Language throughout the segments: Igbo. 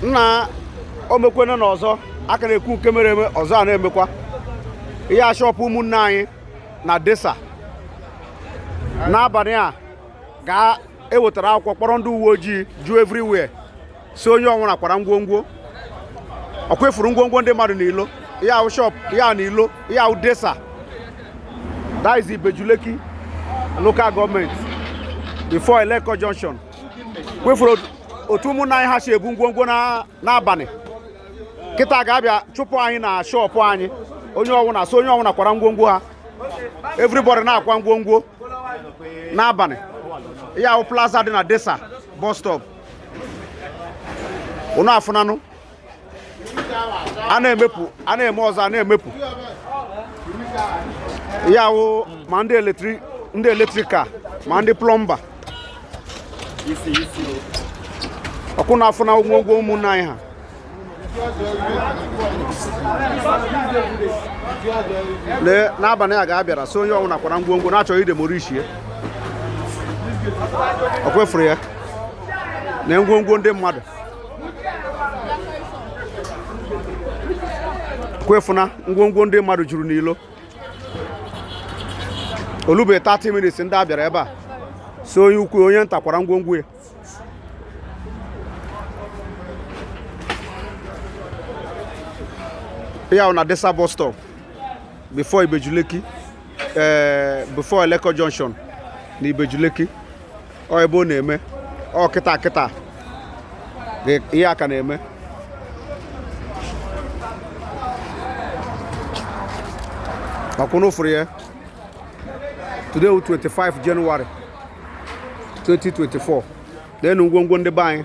nna o mekwene n'ọzọ a ka na-ekwu nke mere eme ọzọ a na-emekwa ihe a shọpụ ụmụnne anyị na Desa n'abalị a ga e wetara akwụkwọ kpọrọ ndị uwe ojii ju everywhere sị onye ọwụna kwara ngwongwo ọkwa ị fụrụ ngwongwo ndị mmadụ n'ilo ihe a wụ shop ya na ilo ihe a wụ Desa that is Ibeju Lekki local government before Eleko junction kwa ị fụrụ otu ụmụnna anyị ha si ebu ngwongwo n'abalị kịta ga a bịa chụpụ anyị na shọpụ anyị onye ọwụna sị onye ọwụna kwara ngwongwo ha everybody na-akwa ngwongwo n'abalị ihe a wụ plaza dị na Desa bus stop unu afụnanụ a na-emepụ a na-eme ọzọ a na-emepụ ya wụ ma ndị eletrika ma ndị plọmba ọkwa unu afụna ngwongwo ụmụnne anyị ha n'abalị a ga a bịara sị onye ọwụna kwara ngwongwo na-achọ idemolishie ọkwa ị fụrụ ya na ngwongwo ndị mmadụ kwa ị fụna ngwongwo ndị mmadụ juru n'ilo o lube 30 minutes ndị a bịara ebe a sị onye ukwu onye nta kwara ngwongwo ya ya na Desa bus stop before Ibeju Lekki eh, before Eleko junction na Ibeju Lekki ọ ebe ọ na-eme ọ kịta kịta ihe a ka na-eme ọkwa unu fụrụ ya today 25 January 2024 neenụ ngwongwo ndị be anyị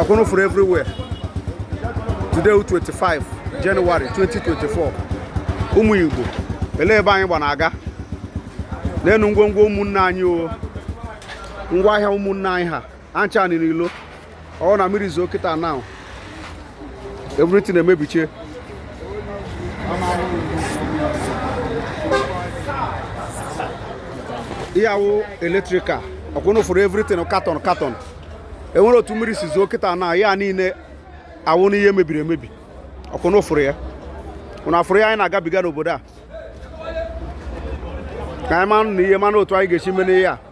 ọkwa unu fụrụ everywhere today 25 January 2024 ụmụ Igbo elee ebe anyị gba na-aga neenụ ngwongwo ụmụnne anyị o ngwa ahịa ụmụnne anyị ha ncha n'ilo ọ na mmiri zoo kịta now everything emebichie ihe a wụ eletrika ọkwa unu fụrụ everything carton carton e nwee otu mmiri si zoo kịta na ya niile awụna ihe mebiri emebi ọkwa unu fụrụ ya unu afụrụ ihe anyị na-agabiga n'obodo a ka anyị manụ na ihe manụ otu anyị ga-esi mee n'ihe a